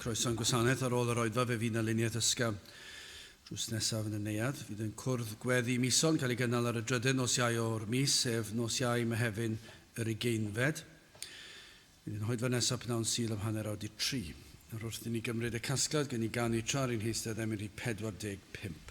Croeso yn gwasanaeth ar ôl yr oedfa fe fydd na luniaeth ysgafn drws nesaf yn y neuad. Fydd yn cwrdd gweddi Mison cael ei gynnal ar y drydydd nos Iau o'r mis, sef nos Iau, Mehefin, yr ugeinfed. Bydd yn hoedfa nesaf pnawn Sul am hanner awr di tri. Nawr wrth i ni gymryd y casgliad gen i ganu tra ar ein heistedd emyn rhif 45.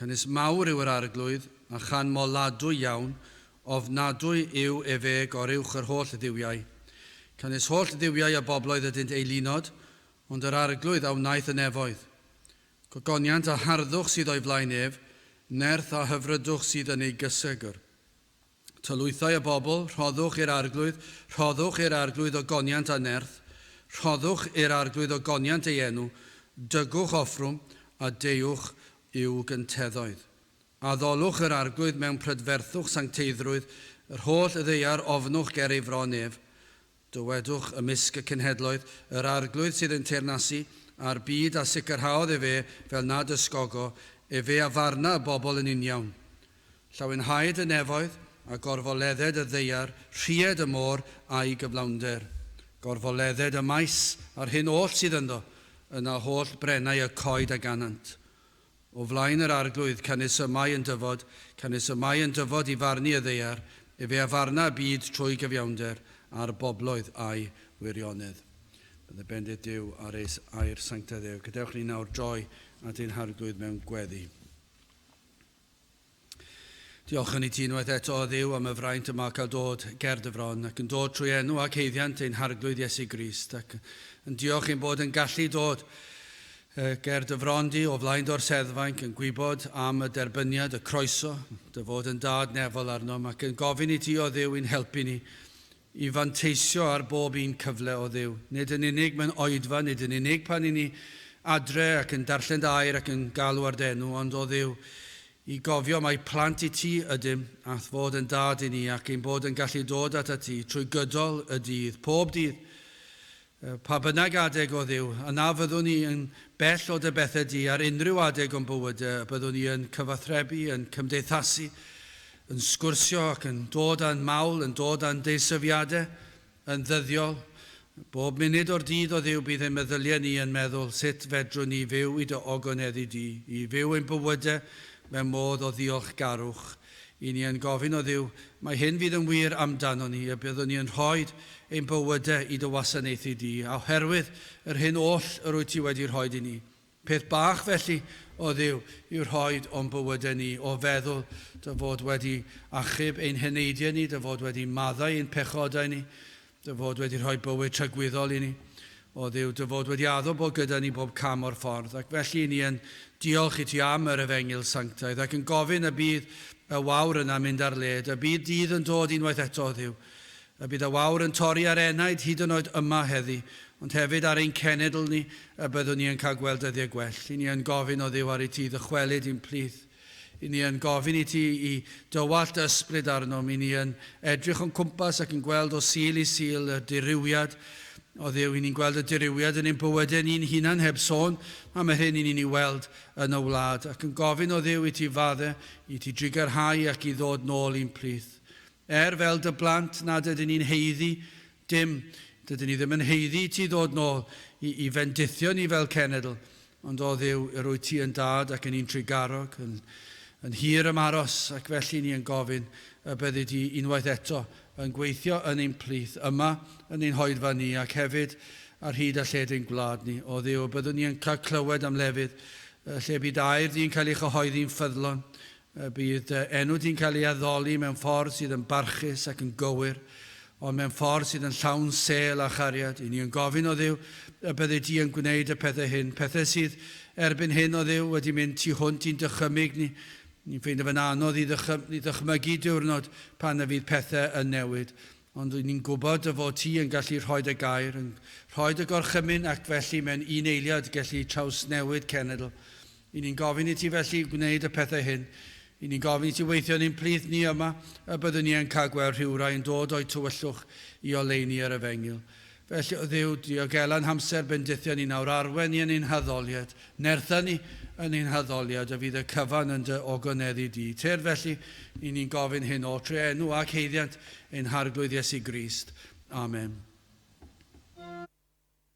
Canys mawr yw yr Arglwydd, a chan moladwy iawn, ofnadwy yw ef eg or uwch yr holl dduwiau. Canys holl dduwiau a bobloedd ydynt eilunod, ond yr Arglwydd a wnaeth y nefoedd. Gogoniant a harddwch sydd o'i flaen ef, nerth a hyfrydwch sydd yn ei gysegr. Tylwythau a bobl, rhoddwch i'r Arglwydd, rhoddwch i'r Arglwydd ogoniant a nerth, rhoddwch i'r Arglwydd ogoniant ei enw, dygwch offrwm, a deuwch i'w gynteddoedd. Addolwch yr Arglwydd mewn prydferthwch sancteiddrwydd, yr holl ddaear ofnwch ger ei fron ef. Dywedwch, ymysg y cenhedloedd, yr Arglwydd sydd yn teyrnasu â'r byd, a sicrhaodd efe fel nad ysgogo efe a farna y bobl yn uniawn. Llawenhaed y nefoedd, a gorfoledded y ddaear, rhied y môr a'i gyflawnder. Gorfoledded y maes, a'r hyn oll sydd ynddo, yna holl brenau y coed a ganant. O flaen yr Arglwydd, canys y mae yn dyfod, canys y mae yn dyfod i farnu y ddaear, efe a farna y byd trwy gyfiawnder, a'r bobloedd â'i wirionedd. Bydde bendith Duw ar eis air sanctaidd ef. Gadewch ni nawr droi at ein Harglwydd mewn gweddi. Diolch yn i ti unwaith eto, O Dduw, am y fraint y mae cael dod ger dy fron, ac yn dod trwy enw ac haeddiant ein Harglwydd Iesu Grist, ac yn diolch ein bod yn gallu dod ger dy fron di o flaen dorseddfainc yn gwybod am y derbyniad, y croeso, dy fod yn dad nefol arnom, ac yn gofyn i ti, O Dduw, i'n helpu ni i fanteisio ar bob un cyfle o Dduw, nid yn unig mewn oedfa, nid yn unig pan i ni adre ac yn darllen dy air ac yn galw ar d'enw, ond, o Dduw, i gofio mai plant i ti ydym, a'th fod yn Dad i ni, ac ein bod yn gallu dod atat ti trwy gydol y dydd, pob dydd. Pa bynnag adeg o Dduw, a na fyddwn ni yn bell o dy bethau di ar unrhyw adeg o'n bywyd, y byddwn ni yn cyfathrebu, yn cymdeithasu, yn sgwrsio ac yn dod â'n mawl, yn dod â'n deisyfiadau yn ddyddiol. Bob munud o'r dydd o Dduw bydd ein meddyliau ni yn meddwl, sut fedrwn ni fyw i dy ogoneddu di, i fyw ein bywydau mewn modd o ddiolchgarwch I ni yn gofyn o Dduw, mae hyn fydd yn wir amdanon ni, y byddwn ni yn rhoi ein bywyde i dy wasanaethu di, a oherwydd yr hyn oll yr wyt ti wedi rhoi i ni. Peth bach felly, o Dduw, yw rhoi o'n bywyde ni, o feddwl dy fod wedi achub ein heneidiau ni, dy fod wedi maddau ein pechodau ni, Dy fod wedi rhoi bywyd tragwyddol i ni, o Dduw, dy fod wedi addo bod gyda ni bob cam o'r ffordd, ac felly i ni yn diolch i ti am yr Efengyl Sanctaidd, ac yn gofyn y bydd y wawr yna'n mynd ar led, y bydd dydd yn dod unwaith eto, o Dduw, y bydd y wawr yn torri ar enaid hyd yn oed yma heddi, ond hefyd ar ein cenedl ni, y byddwn ni yn cael gweld dyddiau gwell. I ni yn gofyn, o Dduw, ar i ti ddychwelyd i'n plith. Ŷn ni yn gofyn i ti i dywallt dy ysbryd arnom, ŷn ni yn edrych o'n cwmpas ac yn gweld o Sul i Sul y dirywiad o Dduw, ŷn ni'n gweld y dirywiad yn ein bywydau ni'n hunan heb sôn am yr hyn ŷn ni'n ei weld yn y wlad, ac yn gofyn o Dduw i ti fadde, i ti drigarhau ac i ddod nôl i'n plith. Er fel dy blant nad ydyn ni'n haeddu Dim, dydyn ni ddim yn haeddu i ti ddod nôl i i fendithio ni fel cenedl, ond o Dduw, yr wyt ti yn dad ac yn un trugarog, yn yn hir am aros, ac felly ni yn gofyn y byddi di unwaith eto yn gweithio yn ein plith, yma yn ein hoedfa ni, ac hefyd ar hyd a lled ein gwlad ni. O Dduw, y byddwn ni yn cael clywed am lefydd y lle bu dy air di'n cael ei chyhoeddi'n ffyddlon, Y bydd dy enw di'n cael ei addoli mewn ffordd sydd yn barchus ac yn gywir, ond mewn ffordd sydd yn llawn sêl a chariad. I ni yn gofyn, O Dduw, y byddi di yn gwneud y pethau hyn, pethau sydd erbyn hyn, O Dduw, wedi mynd tu hwnt i'n dychymyg ni. Ni'n ffeindio fe'n anodd i ddychmygu diwrnod pan y fydd pethau yn newid, ond ry'n ni'n gwybod dy fod ti yn gallu rhoi dy gair, yn rhoi dy gorchymyn ac felly mewn un eiliad gallu trawsnewid cenedl. Y'n ni'n gofyn i ti felly gwneud y pethau hyn. Y'n ni'n gofyn i ti weithio yn ein plith ni yma, y byddwn ni yn cael gweld rhywrai yn dod o'u tywyllwch i oleuni yr efengyl. Felly, o Dduw, diogela yn hamser bendithion ni nawr, arwen ni yn ein haddoliad, nertha ni yn ein haddoliad, y fydd y cyfan yn dy ogoneddu di. Tyrd felly, y'n ni'n gofyn hyn o, trwy enw ac haeddiant ein Harglwydd Iesu Grist. Amen.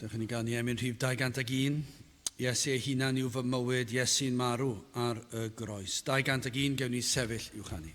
Dewch i ni ganu emyn rhif 201, Iesu ei hunan yw fy mywyd, Iesu'n marw ar y groes. 201, gewn ni sefyll i'w chanu.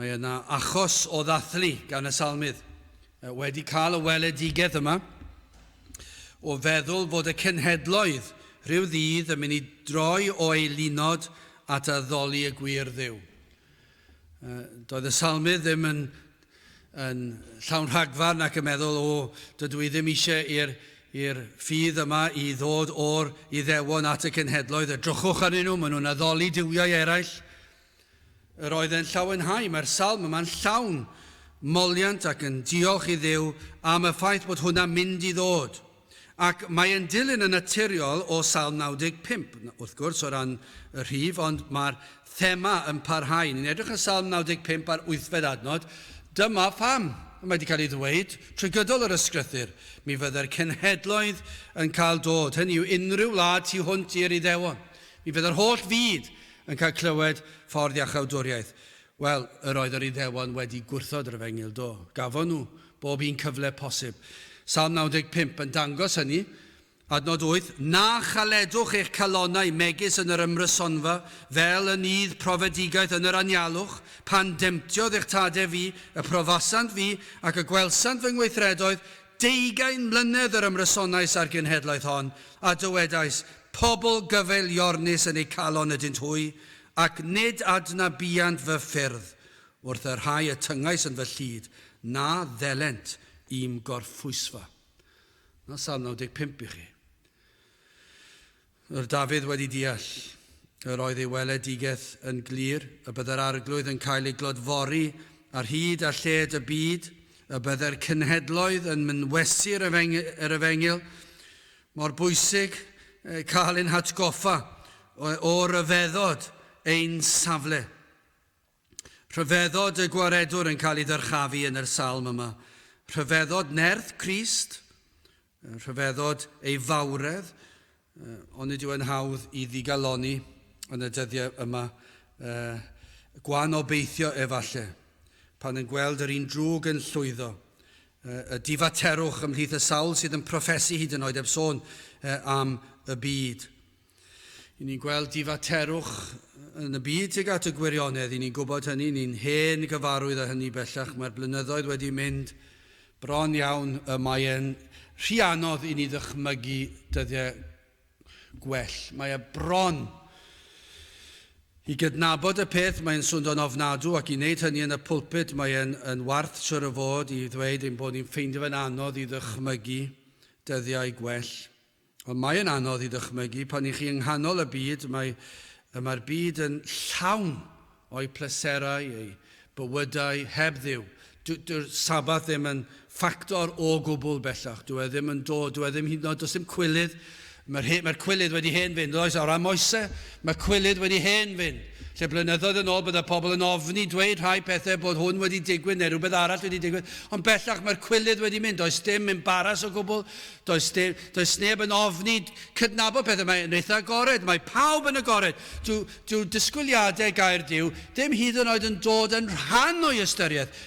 Mae yna achos o ddathlu gan y Salmydd wedi cael y weledigaeth yma, o feddwl fod y cenhedloedd rhyw ddydd yn mynd i droi o'u lunod at addoli y gwir Dduw. Doedd y Salmydd ddim yn, yn llawn rhagfarn ac yn meddwl, o, dydw i ddim eisiau i'r i'r ffydd yma i ddod o'r Iddewon at y cenhedloedd, edrychwch arnyn nhw, maen nhw'n addoli duwiau eraill. Yr oedd e'n llawenhau, mae'r salm yma'n llawn moliant ac yn diolch i Dduw am y ffaith bod hwnna'n mynd i ddod. Ac mae e'n dilyn yn naturiol o Salm 95, wrth gwrs, o ran y rhif, ond mae'r thema yn parhau. Ni'n edrych ar Salm 95 ar wythfed adnod. Dyma pham, mae wedi cael ei ddweud trwy gydol yr ysgrythyr, mi fydde'r cenhedloedd yn cael dod, hynny yw unrhyw wlad tu hwnt i'r Iddewon. Mi fydd yr holl fyd Yn cael clywed ffordd iachawdwriaeth. Wel, yr oedd yr Iddewon wedi gwrthod yr efengyl, do, gafon nhw bob un cyfle posib. Salm 95 yn dangos hynny. Adnod 8, Na chaledwch eich calonnau megis yn yr ymrysonfa, fel yn nydd profedigaeth yn yr anialwch, pan demtiodd eich tadau fi, y profasant fi, ac y gwelsant fy ngweithredoedd, Deugain mlynedd yr ymrysonais â'r genhedlaeth hon, a dywedais, Pobl gyfeiliornus yn eu calon ydynt hwy, ac nid adnabuant fy ffyrdd, wrth y rhai y tyngais yn fy llid, na ddelent i'm gorffwysfa. Dyna Salm 95 i chi. Roedd Dafydd wedi deall, yr oedd ei weledigaeth yn glir, y byddai'r Arglwydd yn cael ei glodfori ar hyd a lled y byd, y byddai'r cenhedloedd yn mynwesu yr efengyl. Mor bwysig cael ein hatgoffa o ryfeddod ein safle. Rhyfeddod y Gwaredwr yn cael ei ddyrchafu yn yr salm yma. Rhyfeddod nerth Crist, rhyfeddod ei fawredd, ond nid yw e'n hawdd i ddigalonni yn y dyddiau yma. Gwan obeithio efalle, pan yn gweld yr un drwg yn llwyddo, y difaterwch ymhlith y sawl sydd yn proffesu hyd yn oed heb sôn am y byd. I ni'n gweld difaterwch yn y byd tuag at y gwirionedd, i ni'n gwybod hynny, ni'n hen gyfarwydd â hynny bellach, mae'r blynyddoedd wedi mynd bron iawn, y mae e'n rhy anodd i ni ddychmygu dyddiau gwell. Mae e bron i gydnabod y peth, mae'n swndo'n ofnadw, ac i wneud hynny yn y pulpud, mae e'n yn warth siwr o fod i ddweud ein bod ni'n ffeindio fe'n anodd i ddychmygu dyddiau gwell. Ond mae yn anodd i ddychmygu pan i chi yng nghanol y byd, mae, y mae'r byd yn llawn o'i pleserau, ei bywydau, heb Dduw. Dyw, dyw'r Sabbath ddim yn ffactor o gwbl bellach, dyw e ddim yn dod, dyw e ddim hyd yn oed, does dim cwilydd, mae'r, he, mae'r cwilydd wedi hen fynd, oes, ar ran Moese, mae cwilydd wedi hen fynd. Lle blynyddoedd yn ôl bydde pobl yn ofni dweud rhai pethau bod hwn wedi digwydd neu rhywbeth arall wedi digwydd, ond bellach mae'r cwilydd wedi mynd, does dim embaras o gwbl, Does dim, does neb yn ofni cydnabod pethau, mae yn eitha agored, mae pawb yn agored. Dyw, dyw disgwyliadau gair Duw ddim hyd yn oed yn dod yn rhan o'i ystyriaeth.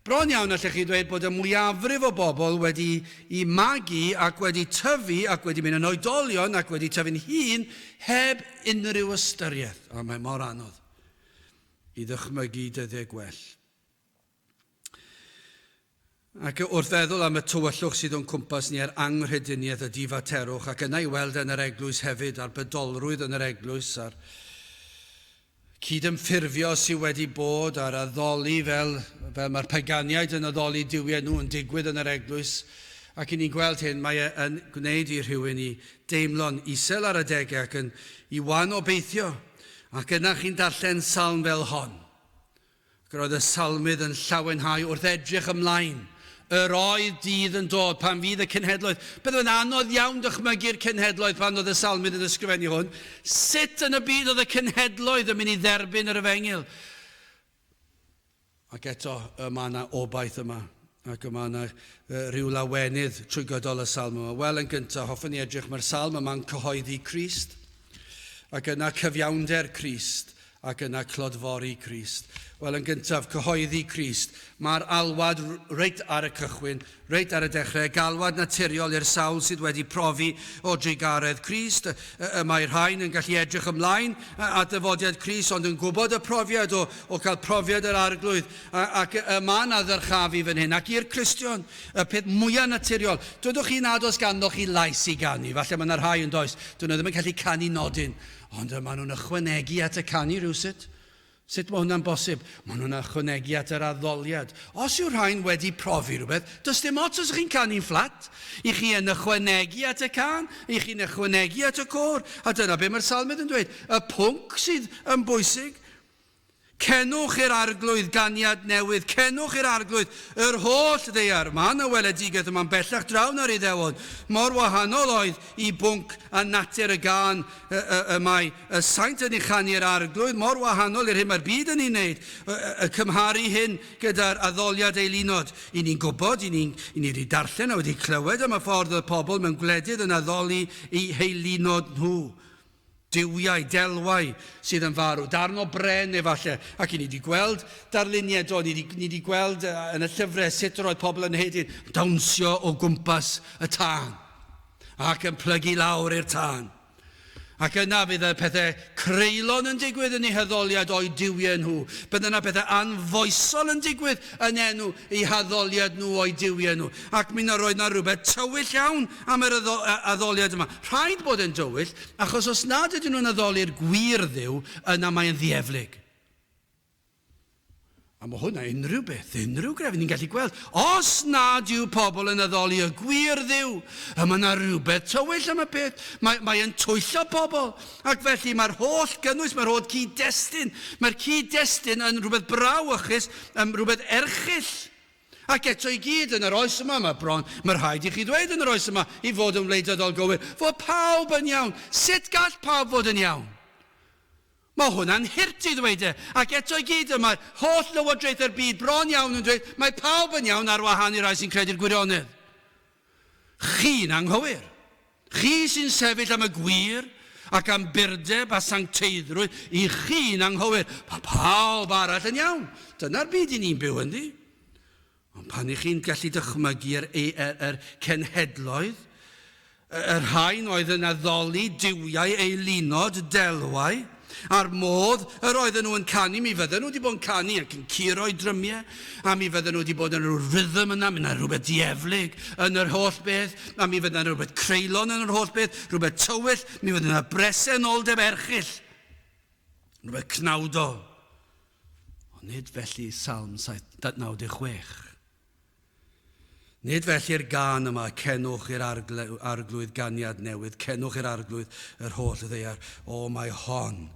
Bron iawn allech chi ddweud bod y mwyafrif o bobl wedi i magu ac wedi tyfu ac wedi mynd yn oedolion ac wedi tyfu'n hŷn heb unrhyw ystyriaeth. O, mae mor anodd i ddychmygu dyddie gwell. Ac wrth feddwl am y tywyllwch sydd o'n cwmpas ni a'r anghrediniaeth a difaterwch, ac yna i weld e yn yr Eglwys hefyd, a'r bydolrwydd yn yr Eglwys, a'r cydymffurfio sydd wedi bod, a'r addoli fel, fel mae'r paganiaid yn addoli duwiau nhw yn digwydd yn yr Eglwys, ac i ni'n gweld hyn, mae e yn gwneud i rhywun i deimlo'n isel ar adegau ac yn i wan obeithio. Ac yna chi'n darllen salm fel hon. Ac yr oedd y Salmydd yn llawenhau wrth edrych ymlaen. Yr oedd dydd yn dod pan fydd y cenhedloedd, byddaf yn anodd iawn dychmygu'r cenhedloedd pan oedd y Salmydd yn ysgrifennu hwn, sut yn y byd oedd y cenhedloedd yn mynd i dderbyn yr efengyl? Ac eto, y mae yna obaith yma. Ac y mae yna ryw lawenydd trwy gydol y salm yma. Wel, yn gyntaf, hoffwn i edrych, mae'r salm yma'n cyhoeddi Crist, ac yna cyfiawnder Crist, ac yna clodfori Crist. Wel, yn gyntaf, cyhoeddi Crist. Mae'r alwad reit ar y cychwyn, reit ar y dechrau, galwad naturiol i'r sawl sydd wedi profi o drugaredd Crist. Y mae rhain yn gallu edrych ymlaen at ddyfodiad Crist, ond yn gwybod y profiad o, o cael profiad yr arglwydd, A, ac y, y mae yna ddyrchafu fan hyn. Ac i'r Cristion, y peth mwyaf naturiol, dwedwch chi nad oes ganddo chi lais i ganu. Falle mae yna rhai yn does, dyn nhw ddim yn gallu canu nodyn, ond y maen nhw'n ychwanegu at y canu rhywsut. Sut mae hwnna'n bosib? Maen nhw'n ychwanegu at yr addoliad. Os yw rhain wedi profi rhywbeth, does dim ots os ych chi'n canu'n fflat. I chi yn ychwanegu at y can, i chi'n ychwanegu at y côr, a dyna be mae'r salmydd yn dweud. Y pwnc sydd yn bwysig Cenwch i'r Arglwydd ganiad newydd, cenwch i'r Arglwydd, yr holl ddaear. Mae yna weledigaeth yma'n bellach draw na'r Iddewon. Mor wahanol oedd i bwnc a natur y gân y mae y Saint yn ei chanu i'r Arglwydd, mor wahanol i'r hyn mae'r byd yn ei wneud, y cymharu hyn gyda'r addoliad eilunod. I ni'n gwybod, i ni, i ni wedi darllen a wedi clywed am y ffordd oedd pobl mewn gwledydd yn addoli eu heilunod nhw. duwiau, delwau sydd yn farw, darn o bren efallai, ac i ni wedi gweld darluniau, do, ni wedi, ni wedi gweld uh, yn y llyfrau sut yr oedd pobl yn hedyn, dawnsio o gwmpas y tân, ac yn plygu lawr i'r tân. Ac yna fydd y pethau creulon yn digwydd yn ei haddoliad o'i duwiau nhw. Bydd yna pethau anfoesol yn digwydd yn enw ei haddoliad nhw o'i duwiau nhw. Ac mi na roedd na rhywbeth tywyll iawn am yr addoliad yma. Rhaid bod e'n dywyll, achos os nad ydyn nhw'n addoli'r gwir Dduw, yna mae'n ddieflig. A mae hwnna unrhyw beth, unrhyw grefydd ni'n gallu gweld. Os nad yw pobl yn addoli y gwir Dduw, y mae yna rhywbeth tywyll am y peth. Mae, mae yn twyllo pobl. Ac felly mae'r holl gynnwys, mae'r holl cyd-destun, mae'r cyd-destun yn rhywbeth brauwchus, rhywbeth erchill. Ac eto i gyd, yn yr oes yma, mae bron, mae rhaid i chi ddweud, yn yr oes yma, i fod yn wleidyddol gywir, fod pawb yn iawn. Sut gall pawb fod yn iawn? Mae hwnna'n hurt i ddweud e. Ac eto i gyd, y mae'r holl lywodraethau'r byd bron iawn yn dweud, mae pawb yn iawn ar wahân i'r rhai sy'n credu'r gwirionedd. Chi'n anghywir. Chi sy'n sefyll am y gwir ac am burdeb a sancteiddrwydd, i chi'n anghywir. Mae pawb arall yn iawn. Dyna'r byd i ni'n byw ynddi. Ond pan i chi'n gallu dychmygu yr, yr, yr, yr cenhedloedd, y, y rhain oedd yn addoli duwiau eilunod delwau, A'r modd yr oedden nhw yn canu, mi fydden nhw wedi bod yn canu ac yn curo'u drymiau, a mi fydden nhw wedi bod yn rhyw rhythm yna, mi 'na rhywbeth dieflig yn yr holl beth, a mi fydda 'na rhywbeth creulon yn yr holl beth, rhywbeth tywyll, mi fydda 'na bresenoldeb erchyll, rhywbeth cnawdol. Ond nid felly Salm 7, 96. Nid felly'r gân yma, Cenwch i'r Arglwydd ganiad newydd, cenwch i'r Arglwydd yr holl ddaear. O, mae hon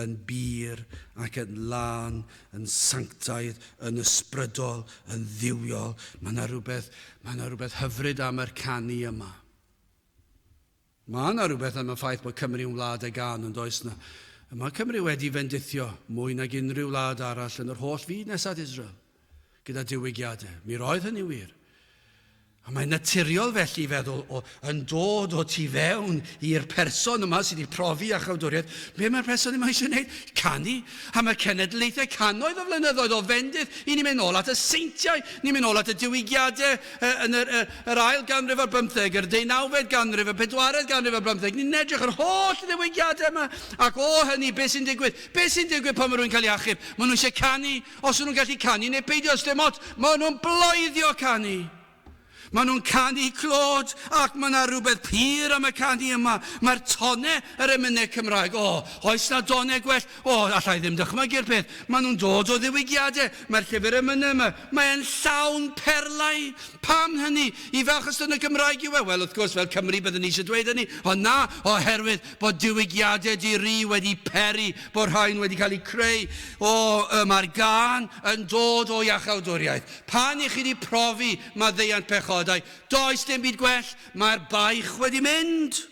yn bur ac yn lân, yn sanctaidd, yn ysbrydol, yn dduwiol. Mae yna rhywbeth, mae yna rhywbeth hyfryd am yr canu yma. Mae yna rywbeth am y ffaith bod Cymru yn wlad â gân, yn does 'na? Mae Cymru wedi fendithio mwy nag unrhyw wlad arall yn yr holl fyd nes at Israel, gyda diwygiadau. Mi roedd hynny'n wir. A mae'n naturiol felly i feddwl, o, yn dod o tu fewn i'r person yma sydd wedi profi a chawdwriaeth, be mae'r person yma eisiau gwneud? Canu! A mae cenedlaethau cannoedd o flynyddoedd o fendith, i ni'n mynd nôl at y seintiau, ni'n mynd nôl at y diwygiadau, yn yr, yr, yr ail ganrif ar bymtheg, yr deunawfed ganrif, y pedwaredd ganrif ar bymtheg. Ni'n edrych yr holl ddiwygiadau yma. Ac o hynny, beth sy'n digwydd? Beth sy'n digwydd pan mae rhywun cael ei achub? Maen nhw eisiau canu, os nhw'n gallu canu, neu peidio os dim ots. Maen nhw'n bloeddio canu. Maen nhw'n canu clod, ac mae yna rhywbeth pur am y canu yma. Mae'r tonne, yr emynau Cymraeg, o, oes na donne gwell? O, alla i ddim dychmygu'r peth. Maen nhw'n dod o ddiwygiadau. Mae'r llyfr yn mynnu yma. Mae e'n llawn perlau. Pam hynny? I falch ystod y Gymraeg yw e? Wel, wrth gwrs, fel Cymry byddwn ni eisiau dweud hynny, ond na, oherwydd bod diwygiadau di-ri wedi peri, bod rhain wedi cael eu creu o, yy, mae'r gân yn dod o iachawdwriaeth. Pan i chi wedi profi maddeuant pechodau, does dim byd gwell, mae'r baich wedi mynd.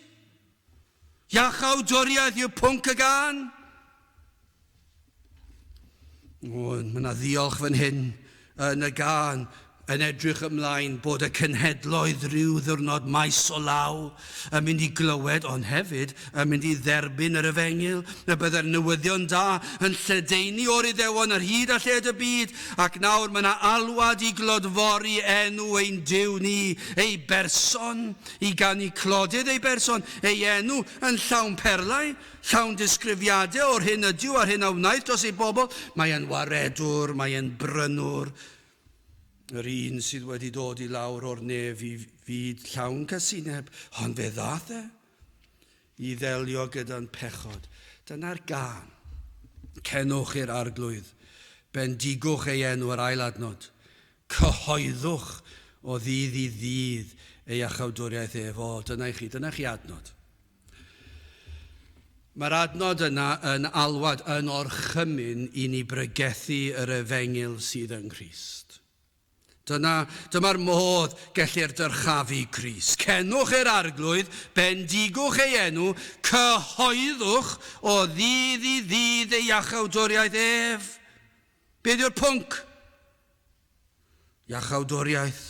Iachawdwriaeth yw pwnc y gân. O, mae yna ddiolch fan hyn yn y gân yn edrych ymlaen bod y cenhedloedd rhyw ddiwrnod maes o law yn mynd i glywed ond hefyd yn mynd i dderbyn yr efengyl y byddai'r newyddion da yn lledaenu o'r Iddewon ar hyd a lled y byd ac nawr mae yna alwad i glodfori enw ein Duw ni, ei berson, I ganu clodid ei berson, ei enw, yn llawn perlau, llawn disgrifiadau o'r hyn ydyw a'r hyn a wnaeth dros ei bobl, mae e'n waredwr, mae e'n brynwr, yr un sydd wedi dod i lawr o'r nef i fyd llawn casineb, ond fe ddaeth e. I ddelio gyda'n pechod. Dyna'r gân. Cenwch i'r Arglwydd. Bendigwch ei enw, yr ail adnod. Cyhoeddwch o ddydd i ddydd ei achawdwriaeth ef. O, dyna i chi, dyna chi adnod. Mae'r adnod yna yn alwad, yn orchymyn i ni bregethu yr efengyl sydd yng Nghrist. Dyna, dyma'r modd gellir dyrchafu Crist. Cenwch e'r Arglwydd, bendigwch ei enw, cyhoeddwch o ddydd i ddydd ei iachawdwriaeth ef. Beth yw'r pwnc? Iachawdwriaeth,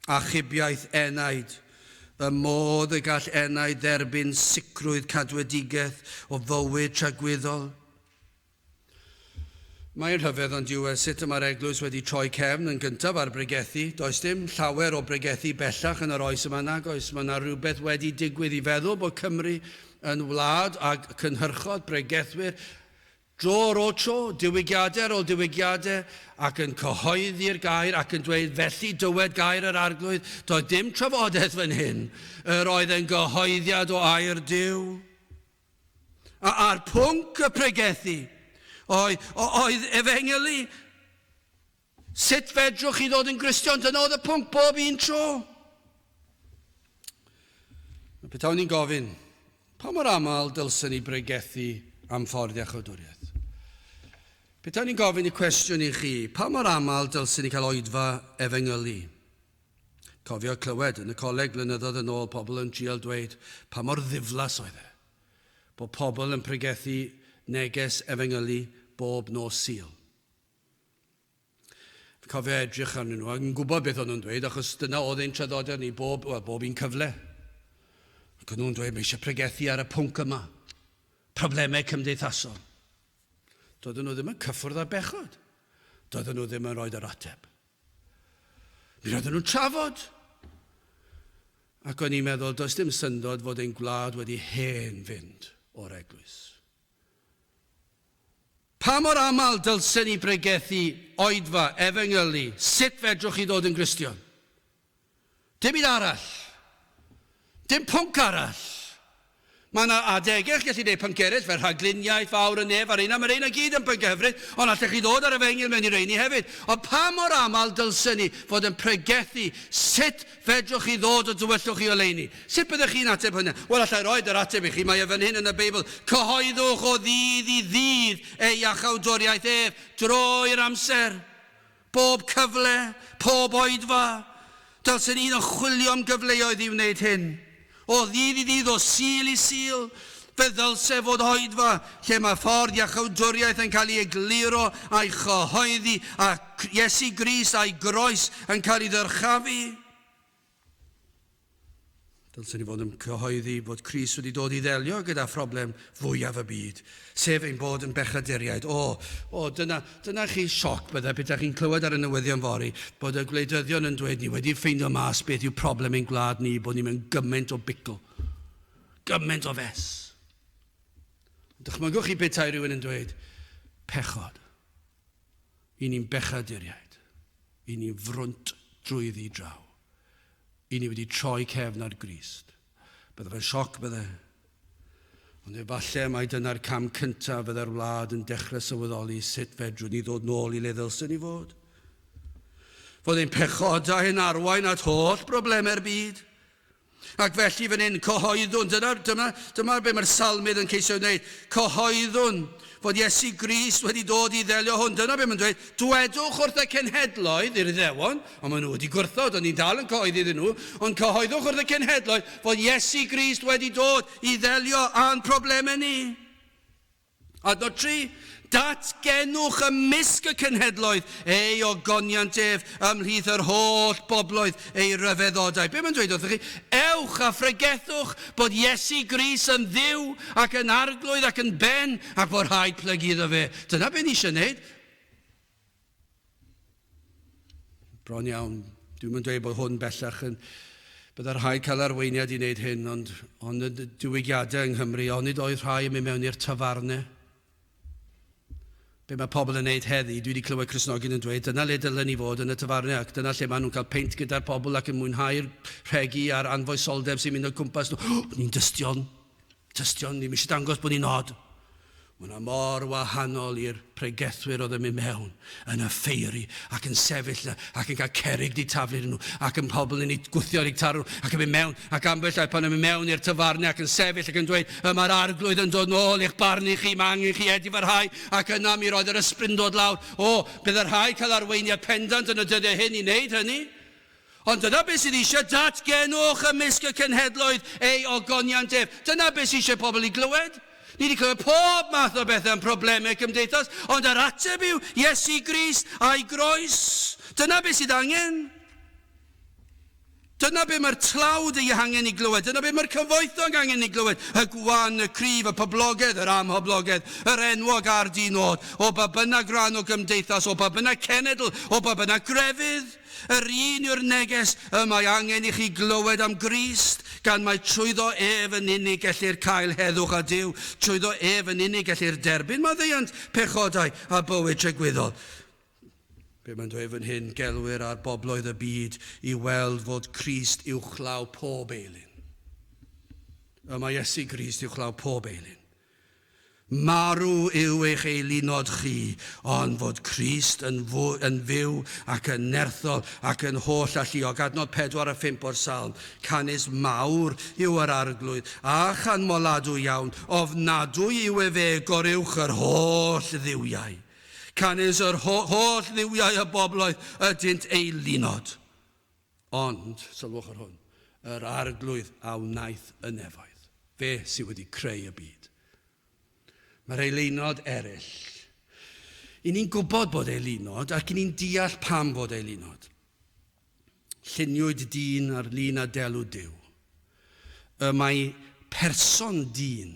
achubiaeth enaid, y modd y gall enaid dderbyn sicrwydd cadwedigaeth o fywyd tragwyddol. Mae'n rhyfedd ond yw e sut y mae'r eglwys wedi troi cefn yn gyntaf ar bregethu. Does dim llawer o bregethu bellach yn yr oes yma nag oes? Mae yna rywbeth wedi digwydd i feddwl bod Cymru yn wlad a cynhyrchodd bregethwyr dro ar ôl tro, diwygiadau ar ôl diwygiadau, ac yn cyhoeddi'r gair ac yn dweud felly dywed gair yr arglwydd. Doedd dim trafodaeth fan hyn. Yr oedd e'n gyhoeddiad o air Duw. A'r pwnc y pregethu oedd efengylu. Sut fedrwch chi ddod yn Gristion? Dyna oedd y pwnc bob un tro. Mae petawn ni'n gofyn, pa mor aml dylsyn ni bregethu am ffordd iachawdwriaeth? Petawn ni'n gofyn y cwestiwn i chi, pa mor aml dylsyn ni cael oedfa efengylu? Cofio clywed yn y coleg blynyddoedd yn ôl pobl yn trial dweud pa mor ddiflas oedd e, bod pobl yn pregethu neges efengylu bob nos Sul. Fi'n cofio edrych arnyn nhw ac yn gwybod beth o'n nhw'n dweud achos dyna oedd ein traddodiad ni bob, wel, bob un cyfle. Ac o'n nhw'n dweud, mae eisiau pregethu ar y pwnc yma, problemau cymdeithasol. Doedden nhw ddim yn cyffwrdd â bechod. Doedden nhw ddim yn rhoi yr ateb. Mi roedden nhw'n trafod. Ac o'n i'n meddwl, does dim syndod fod ein gwlad wedi hen fynd o'r eglwys. Pa mor aml dylsen ni bregethu oedfa, efengylu, sut fedrwch chi ddod yn Gristion? Dim un arall. Dim pwnc arall. Mae yna adegau chi'n gallu gwneud pynciau eraill, fel rhagluniaeth fawr yn nef ar ein a mae rheina gyd yn pynciau hyfryd, ond allech chi ddod â'r efengyl mewn i reini hefyd. Ond pa mor aml dylsen ni fod yn pregethu? Sut fedrwch chi ddod o dywyllwch chi oleuni? Sut byddech chi'n ateb hwnna? Wel, alla i roi yr ateb i chi, mae e fan hyn yn y Beibl, Cyhoeddwch o ddydd i ddydd ei achawdwriaeth ef drwy'r amser. Bob cyfle, pob oedfa, dylsen ni iddo chwilio am gyfleoedd i wneud hyn. O ddydd i ddydd, o Sul i Sul, fe ddylse fod oedfa lle mae ffordd iachawdwriaeth yn cael ei egluro a'i chyhoeddi a Iesu Grist a'i groes yn cael ei ddyrchafu. Dylswn ni fod yn cyhoeddi bod Cris wedi dod i ddelio gyda phroblem fwyaf y byd, sef ein bod yn bechaduriaid. O, o, dyna, dyna chi sioc byddai pethau chi'n clywed ar y newyddion fori, bod y gwleidyddion yn dweud ni wedi ffeindio mas beth yw problem ein gwlad ni, bod ni mewn gymaint o bicl. Gymaint o fes. Dychmygwch chi bethau rhywun yn dweud, pechod. I ni'n bechaduriaid. I ni'n frwnt drwyddi draw. I ni wedi troi cefn ar Grist. Bydde fe'n sioc, bydde. Ond efallai mai dyna'r cam cyntaf fydde'r wlad yn dechrau sylweddoli sut fedrwn ni ddod nôl i le ddylsen ni fod. Fod ein pechodau yn arwain at holl broblemau'r byd. Ac felly fan hyn, cyhoeddwn, dyna, dyna, dyma be mae'r salmydd yn ceisio wneud, cyhoeddwn fod Iesu Grist wedi dod i ddelio hwn. Dyna be mae'n dweud, dwedwch wrth y cenhedloedd, i'r iddewon, ond maen nhw wedi gwrthod, ond ni'n dal yn cyhoeddi iddyn nhw, ond cyhoeddwch wrth y cenhedloedd fod Iesu Grist wedi dod i ddelio â'n problemau ni. Adnod 3, Datgenwch ymysg y cenhedloedd ei ogoniant ef ymhlith yr holl bobloedd ei ryfeddodau. Be mae'n dweud wrthych chi? Ewch a phregethwch bod Iesu Gris yn Dduw ac yn Arglwydd ac yn Ben ac bod rhaid plygu iddo fe. Dyna be ni eisiau wneud. Bron iawn. Dwi'n mynd dweud bod hwn bellach yn... Byddai rhai cael arweiniad i wneud hyn, ond, ond y diwygiadau yng Nghymru, onid oedd rhai yn mynd mewn i'r tafarnau? Be mae pobl yn wneud heddi? Dwi wedi clywed Cristnogion yn dweud, dyna le dylen ni fod yn y tafarnau, ac dyna lle maen nhw'n cael peint gyda'r pobl ac yn mwynhau'r rhegi a'r anfoesoldeb sy'n mynd o cwmpas nhw. Ni'n dystion! Tystion ddim eisiau dangos bod ni'n od. Mae hwnna mor wahanol i'r pregethwyr oedd yn mynd mewn, yn offeiri, ac yn sefyll na, ac yn cael cerrig di taflu arnyn nhw, ac yn pobl yn eu gwthio ar eu tarw, ac yn mynd mewn, ac ambell ai pan yn mynd mewn i'r tafarnau ac yn sefyll ac yn dweud, y mae'r Arglwydd yn dod nôl i'ch barnu chi, mae angen chi edifarhau, ac yna mi roedd yr ysbryd yn dod lawr. O, bydd y rhai cael arweiniad pendant yn y dyddiau hyn i wneud hynny. Ond dyna beth sydd eisiau datgenwch ymysg y cenhedloedd, ei ogoniant ef. Dyna beth sydd eisiau pobl i glywed. Ni wedi clywed pob math o bethau am problemau cymdeithas, ond yr ateb yw Iesu Grist a'i groes. Dyna beth sydd angen. Dyna beth mae'r tlawd ei hangen i glywed. Dyna beth mae'r cyfoethog angen i glywed. Y gwan, y cryf, y poblogedd, yr amhoblogedd, yr enwog a'r di-nod, o ba bynnag rhan o gymdeithas, o ba bynnag cenedl, o ba bynnag grefydd. Yr un yw'r neges y mae angen i chi glywed am Grist, gan mai trwyddo ef yn unig gellir cael heddwch â Duw, trwyddo ef yn unig gellir derbyn maddeuant pechodau a bywyd tragwyddol. Be mae'n dweud fan hyn, gelwir ar bobloedd y byd i weld fod Crist uwchlaw pob eilun. Y mae Iesu Grist uwchlaw pob eilun. Marw yw eich eilunod chi, ond fod Crist yn yn fyw ac yn nerthol ac yn holl alluog. Adnod 4 a 5 o'r Salm, Canys mawr yw yr Arglwydd, a chanmoladwy iawn, ofnadwy yw efe goruwch yr holl dduwiau. Canys yr ho holl dduwiau y bobloedd ydynt eilunod. Ond, sylwch ar hwn, yr Arglwydd a wnaeth y nefoedd, fe sydd wedi creu y byd. Mae'r eilunod eraill. I ni'n gwybod bod eilunod ac i ni'n deall pam fod eilunod. Lluniwyd dyn ar lun a delw Duw. Y mae person dyn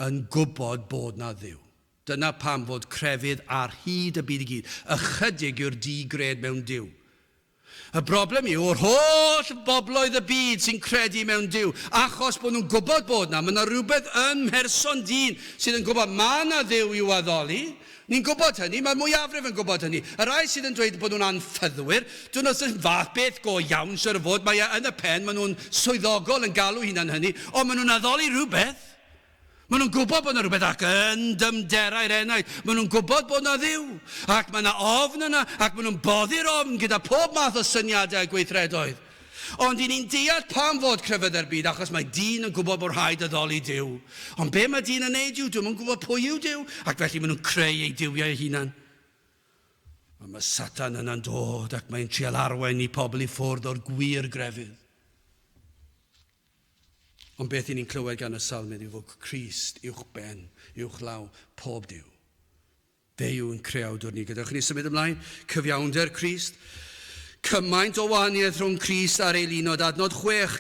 yn gwybod bod na Dduw. Dyna pam fod crefydd ar hyd y byd i gyd. Ychydig yw'r di-gred mewn Duw. Y broblem yw yr holl bobloedd y byd sy'n credu mewn Duw, achos bod nhw'n gwybod bod 'na, ma' 'na rywbeth yn mherson dyn sydd yn gwybod ma' 'na Dduw i'w addoli. Ni'n gwybod hynny, mae'r mwyafrif yn gwybod hynny. Y rhai sydd yn dweud bod nhw'n anffyddwyr, dyn nhw ddim fath beth go iawn, siŵr o fod, mae e yn y pen, ma' nhw'n swyddogol yn galw hunan hynny, ond ma' nhw'n addoli rhywbeth. Maen nhw'n gwybod bod yna rhywbeth ac yn dyfnderau'r enaid. Maen nhw'n gwybod bod yna dduw, ac mae yna ofn yna, ac maen nhw'n boddi'r ofn gyda pob math o syniadau a gweithredoedd. Ond i ni'n deall pam fod crefyddau'r byd, achos mae dyn yn gwybod bod rhaid addoli Duw. Ond be mae dyn yn neud yw, dyn nhw'n gwybod pwy yw Duw, ac felly maen nhw'n creu eu duwiau eu hunan. Ond mae Satan yna'n dod ac mae'n trial arwain ni pobl i ffwrdd o'r gwir grefydd. Ond beth i ni'n clywed gan y salmydd yw fod Crist uwchben, uwchlaw pob Duw. Fe yw yn creawdwr ni. Gadewch ni symud ymlaen. Cyfiawnder Crist. Cymaint o wahaniaeth rhwng Crist a'r eilunod. Adnod chwech,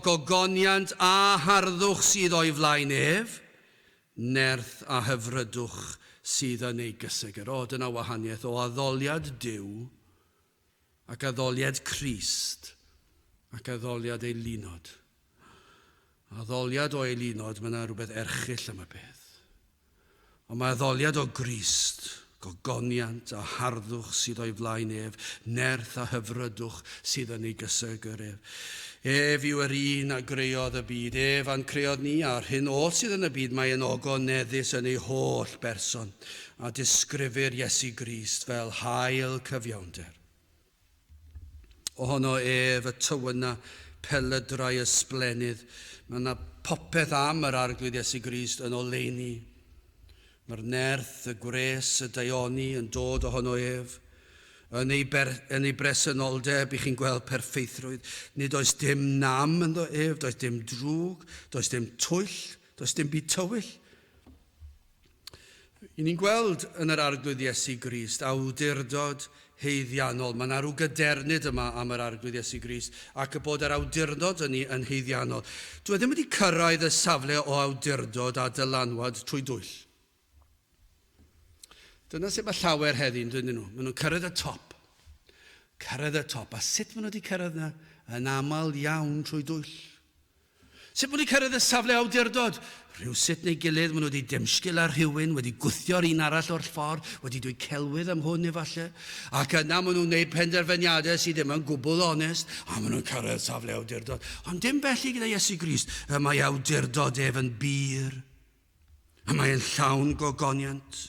gogoniant a harddwch sydd o'i flaen ef, nerth a hyfrydwch sydd yn ei gysegr. O, dyna wahaniaeth o addoliad Duw Ac addoliad Crist, ac addoliad ei lunod. Addoliad o ei lunod, mae yna rhywbeth erchyll am y peth. Ond mae addoliad o Grist, gogoniant a harddwch sydd o'i flaen ef, nerth a hyfrydwch sydd yn ei gysegr ef. Ef yw yr un a greodd y byd, ef a'n creodd ni, a'r hyn oll sydd yn y byd, mae e'n ogoneddus yn ei holl berson. a disgrifir Iesu Grist fel haul cyfiawnder. Ohono ef y tywyna pelydrau ysblennydd. Mae yna popeth am yr Arglwydd Iesu Grist yn oleuni. Mae'r nerth, y gwres, y daioni yn dod ohono ef. Yn ei, ber, yn ei bresenoldeb i chi'n gweld perfeithrwydd. Nid oes dim nam ynddo ef, does dim drwg, does dim twyll, does dim byd tywyll. Y ni'n gweld yn yr Arglwydd Iesu Grist awdurdod haeddiannol. Mae 'na rhyw gadernid yma am yr Arglwydd Iesu Grist ac y bod yr awdurdod ynni yn haeddiannol. Dyw e ddim wedi cyrraedd y safle o awdurdod a dylanwad trwy dwyll. Dyna sut mae llawer heddi'n dydyn nhw. Maen nhw'n cyrraedd y top. Cyrraedd y top. A sut maen nhw wedi cyrraedd yna? Yn aml iawn trwy dwyll. Sut maen nhw'n cyrraedd y safle awdurdod? Rhywsut neu gilydd maen nhw wedi dymsgil ar rhywun, wedi gwthio'r un arall o'r ffordd, wedi dweud celwydd am hwn efallai, ac yna maen nhw'n gwneud penderfyniadau sydd ddim yn gwbl onest, a maen nhw'n cyrraedd safle awdurdod. Ond dim felly gyda Iesu Grist, y mae awdurdod ef yn bur. A mae e'n llawn gogoniant.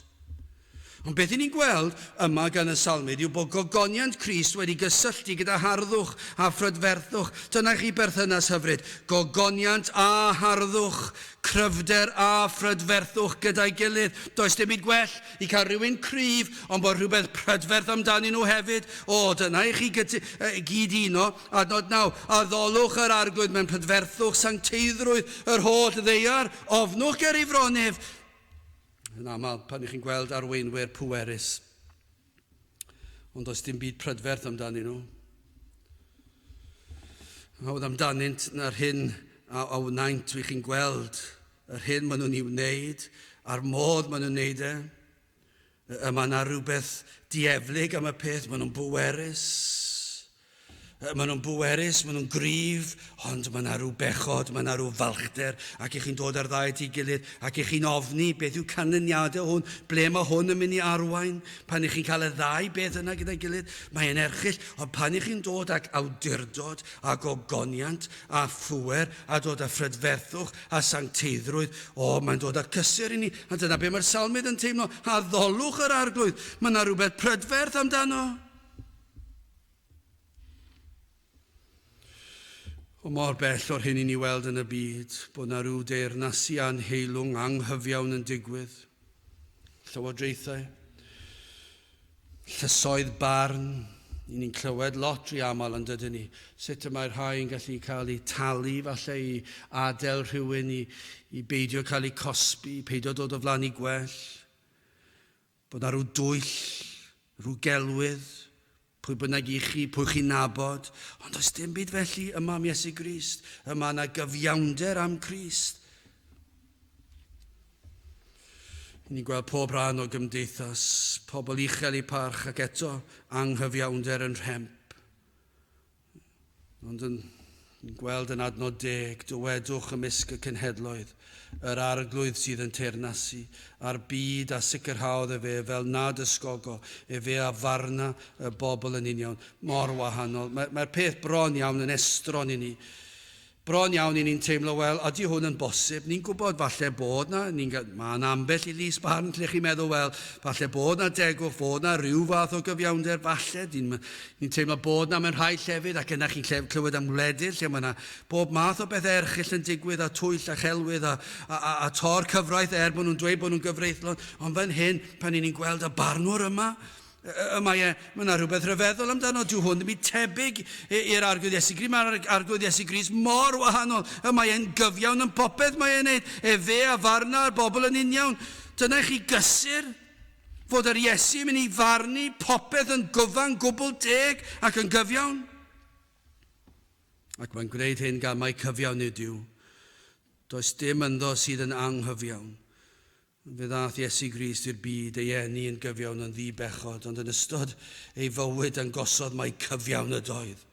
Ond beth 'yn ni'n gweld yma gan y Salmydd yw bod gogoniant Crist wedi gysylltu gyda harddwch a phrydferthwch. Dyna chi berthynas hyfryd, gogoniant a harddwch, cryfder a phrydferthwch gyda'i gilydd. Does dim byd gwell i cael rhywun cryf ond bod rhywbeth prydferth amdanyn nhw hefyd. O, dyna i chi gyd-uno. Adnod 9, Addolwch yr Arglwydd mewn prydferthwch, sancteiddrwydd yr holl ddaear, ofnwch ger ei fronef, yn aml pan ych chi'n gweld arweinwyr pwerus. Ond does dim byd prydferth amdanyn nhw. Hawdd amdanynt na'r hyn a awnaint wych chi'n gweld, yr hyn maen nhw'n ei wneud, a'r modd maen nhw'n wneud e. Yy mae yna rhywbeth dieflig am y peth, maen nhw'n bwerus. Yy maen nhw'n bwerus, maen nhw'n gryf, ond mae yna rhyw bechod, mae yna rhyw falchder, ac i chi'n dod ar ddau at ei gilydd, ac i chi'n ofni beth yw canlyniadau hwn, ble mae hwn yn mynd i arwain, pan i chi'n cael y ddau beth yna gyda'i gilydd, mae e'n erchill, ond pan i chi'n dod ag awdurdod, a gogoniant, a phŵer, a dod â phrydferthwch, a sancteiddrwydd. O, mae'n dod â cysur i ni, a dyna be mae'r salmydd yn teimlo, addolwch yr arglwydd, mae yna rhywbeth prydferth amdano. O mor bell o'r hyn i ni weld yn y byd, bod yna rhyw deyrnasu anheilwng anghyfiawn yn digwydd, Llywodraethau, llysoedd barn, i ni'n clywed lot rhy aml yn dydyn ni, sut y mae rhai yn gallu cael eu talu falle i adael rhywun i, i beidio cael eu cosbi, peidio dod o flan i gwell, bod na rhyw dwyll, rhyw gelwydd, Pwy bynnag i chi, pwy chi'n nabod, ond does dim byd felly yma am Iesu Grist, y mae yna gyfiawnder am Crist. Ni'n gweld pob rhan o gymdeithas, pobl uchel i parch ac eto anghyfiawnder yn rhemp. Ond yn gweld yn adnod deg, dywedwch ymysg y cenhedloedd, yr arglwydd sydd yn teyrnasu ar byd a sicrhaodd efe fel nad ysgogo efe a farna y bobl yn union mor wahanol. Mae'r peth bron iawn yn estron i ni. Bron iawn i ni'n teimlo, wel, ydy hwn yn bosib? Ni'n gwybod falle bod 'na, ni'n ga-, mae 'na ambell i lys barn lle chi'n meddwl, wel, falle bod 'na degwch, fod 'na ryw fath o gyfiawnder, falle, ni'n, ni'n teimlo bod 'na mewn rhai llefydd, ac yna chi'n lle, clywed am wledydd lle mae 'na bob math o bethau erchyll yn digwydd, a twyll a chelwydd a, a, a, a tor cyfraith er bod nhw'n dweud bod nhw'n gyfreithlon, ond fan hyn, pan 'yn ni'n gweld y barnwr yma, Y mae e, mae yna rhywbeth rhyfeddol amdano, dyw hwn ddim yn tebyg i'r Arglwydd Iesu Grist, mae'r Arglwydd Iesu Grist mor wahanol, y mae e'n gyfiawn yn popeth mae e'n gwneud, efe a farna'r bobl yn uniawn. Dyna i chi gysur, fod yr Iesu yn mynd i farnu popeth yn gyfan gwbl deg ac yn gyfiawn. Ac mae'n gwneud hyn gan mai cyfiawn ydyw. Does dim ynddo sydd yn anghyfiawn. Fe ddaeth Iesu Grist i'r byd, ei eni yn gyfiawn yn ddi-bechod, ond yn ystod ei fywyd dangosodd mai cyfiawn ydoedd.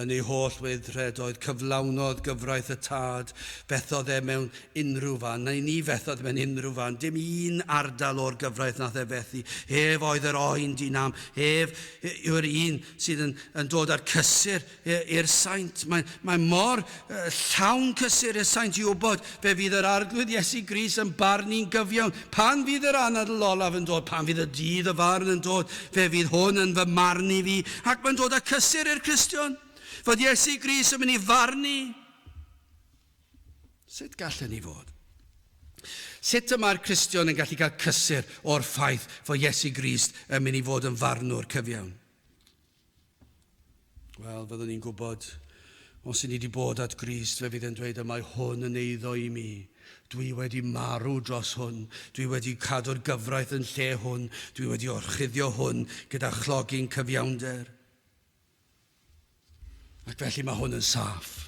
Yn ei holl weithred oedd cyflawnodd gyfraith y Tad, fethodd e mewn unrhyw fan, neu ni fethodd mewn unrhyw fan, dim un ardal o'r gyfraith nath e fethu, ef oedd yr oen di-nam, ef yw'r un sydd yn yn dod â'r cysur, i'r saint. Mae, mae mor uh, llawn cysur y saint i wybod fe fydd yr arglwydd Iesu Gris yn barn ni'n gyfiawn. Pan fydd yr anadl olaf yn dod, pan fydd y dydd y farn yn dod, fe fydd hwn yn fy marn i fi, ac mae'n dod â cysur i'r Cristion, fod Iesu Gris yn mynd i farn ni. Sut gallen ni fod? Sut y mae'r Cristion yn gallu cael cysur o'r ffaith fod Iesu Grist yn mynd i fod yn farnwr cyfiawn? Wel, fyddwn ni'n gwybod, os i ni wedi bod at Grist, fe fydd e'n dweud y mae hwn yn eiddo i mi. Dwi wedi marw dros hwn. Dwi wedi cadw'r gyfraith yn lle hwn. Dwi wedi orchuddio hwn gyda chlogi'n cyfiawnder. Ac felly mae hwn yn saff.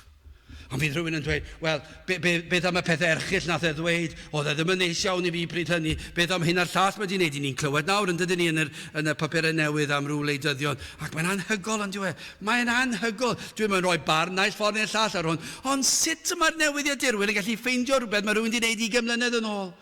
Ond fydd rhywun yn dweud, wel, be, be, beth am y pethau erchill nath e ddweud, oedd e ddim yn neis iawn i fi pryd hynny, beth am hyn a'r llall mae di wneud i ni'n clywed nawr yn dydyn ni yn, yr, yn y papurau newydd am rhyw leidyddion, ac mae'n anhygol yn diwe, mae'n anhygol, dwi'n mynd rhoi barn naill ffordd neu'r llall ar hwn, ond sut y mae'r newyddiadurwyr yn gallu ffeindio rhywbeth mae rhywun di wneud i gymlynedd yn ôl?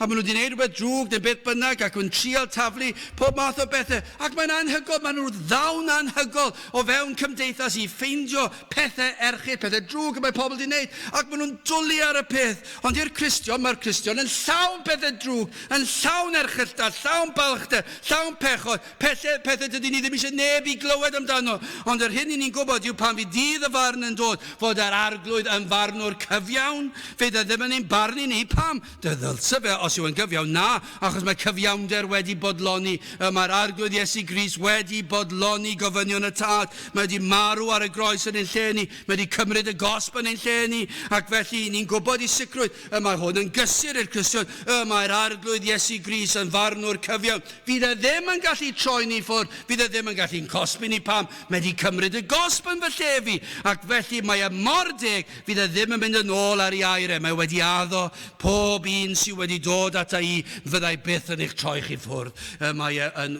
A maen nhw 'di neud rhywbeth drwg neu beth bynnag ac yn trial taflu pob math o bethe ac mae'n anhygol, maen nhw'n ddawn anhygol o fewn cymdeithas i ffeindio pethe erchyll, pethe drwg y mae pobl 'di neud ac maen nhw'n dwlu ar y peth. Ond i'r Cristion, mae'r Cristion yn llawn pethe drwg, yn llawn erchylltad, llawn balchder, llawn pechod, Pethau, pethau dydyn ni ddim eisiau neb i glywed amdano, ond yr hyn i ni'n gwybod yw pan fydd dydd y farn yn dod, fod yr Arglwydd yn farnwr cyfiawn. Fydd e ddim yn ein barnu ni. Pam? Dy ddylse fe, os yw e'n gyfiawn? Na, achos mae cyfiawnder wedi bodloni. Y mae'r Arglwydd Iesu Grist wedi bodloni gofynion y Tad. Mae wedi marw ar y groes yn ein lle ni. Mae wedi cymryd y gosb yn ein lle ni. Ac felly, i ni'n gwybod i sicrwydd, y mae hwn yn gysur i'r Cristion, y mae'r Arglwydd Iesu Grist yn farnwr cyfiawn. Fydd e ddim yn gallu troi ni ffwr, fydd e ddim yn gallu yn cosbi ni pam, mae e 'di cymryd y gosb yn fy lle fi, ac felly mae e mor deg, fydd e ddim yn mynd yn ôl ar ei air e, mae e wedi addo, pob un sy wedi dod ata i, fydda i byth yn eich troi chi ffwrdd, y mae e yn,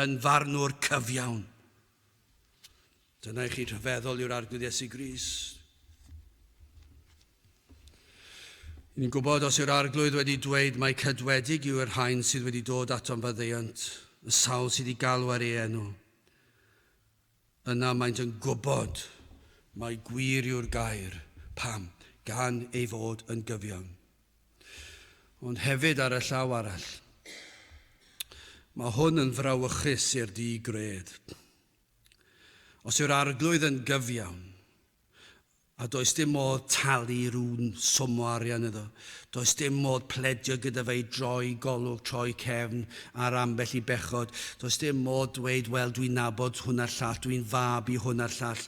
yn farnwr cyfiawn. Dyna i chi rhyfeddol yw'r Arglwydd Iesu Grist. Ni'n gwybod os yw'r arglwydd wedi dweud mae cydwedig yw yr hain sydd wedi dod ato'n faddeuant, y sawl sydd wedi galw ar ei enw. Yna maent yn gwybod mae gwir yw'r gair, pam, gan ei fod yn gyfiawn. Ond hefyd ar y llaw arall, mae hwn yn frawychus i'r di gred. Os yw'r Arglwydd yn gyfiawn, a does dim modd talu rhywun swm o arian iddo, does dim modd pledio gyda fe i droi golwg, troi cefn ar ambell i bechod, does dim modd dweud, wel, dwi'n nabod hwn a'r llall, dwi'n fab i hwn a'r llall.